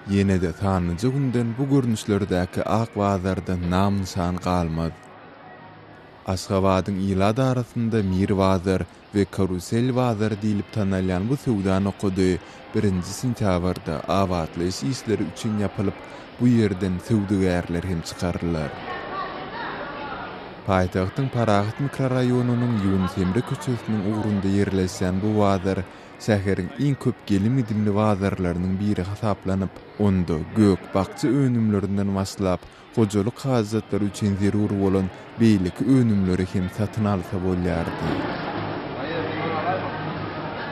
Ýene-de sanlyja günden bu görnüşlerdäki ak bazardan nam-nyşan galmaz. Aşgabadyň ilat arasynda Mir bazar we Karusel bazary diýlip tanalýan bu söwda nokady birinji sentýabrda abatlaýyş işleri üçin ýapylyp, bu ýerden söwdagärler hem çykarylar. Paýtagtyň Parahat mikroraýonynyň Ýunus Emre köçesiniň ugrunda ýerleşýän bu bazar şäheriň iň köp gelim-gidimli bazarlarynyň biri hasaplanyp, onda gök-bakja önümlerinden başlap, Hojalyk hajatlary üçin zerur bolan beýleki önümleri hem satyn alsa bolýardy.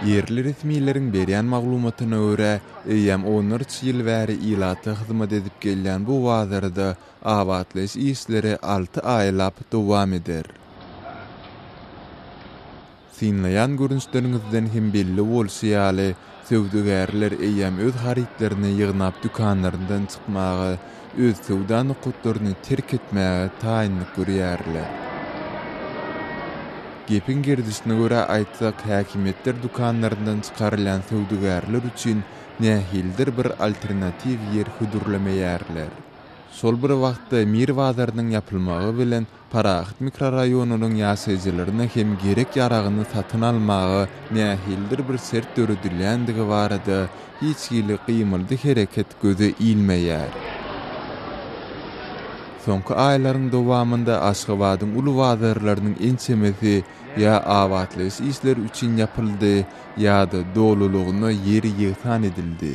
Ýerli resmileriň berýän maglumatyna görä, eýýäm onlarça ýyl bäri ilata hyzmat edip gelýän bu bazarda abatlaýyş işleri alty aýlap dowam eder. Synlaýan görnüşleriňizden hem belli bolşy ýaly, söwdagärler eýýäm öz harytlaryny ýygnap dükanlaryndan çykmaga, öz söwda nokatlaryny terk etmäge taýynlyk görýärler. Gepiň gerdişine görä aýtsak, häkimiýetler dükanlaryndan çykarylýan söwdagärler üçin nähilidir bir alternatiw ýer hödürlemeýärler. Şol bir wagtda Mir bazarynyň ýapylmagy bilen Parahat mikroraýonynyň ýaşaýjylaryna hem gerek-ýaragyny satyn almaga nähilidir bir şert döredilýändigi barada hiç hili gymyldy-hereket göze ilmeýär. Soňky aýlaryň dowamynda Aşgabadyň uly bazarlarynyň ençemesi ýa abatlaýyş işleri üçin ýapyldy, ýa-da dolulygyna ýeri ýegsan edildi.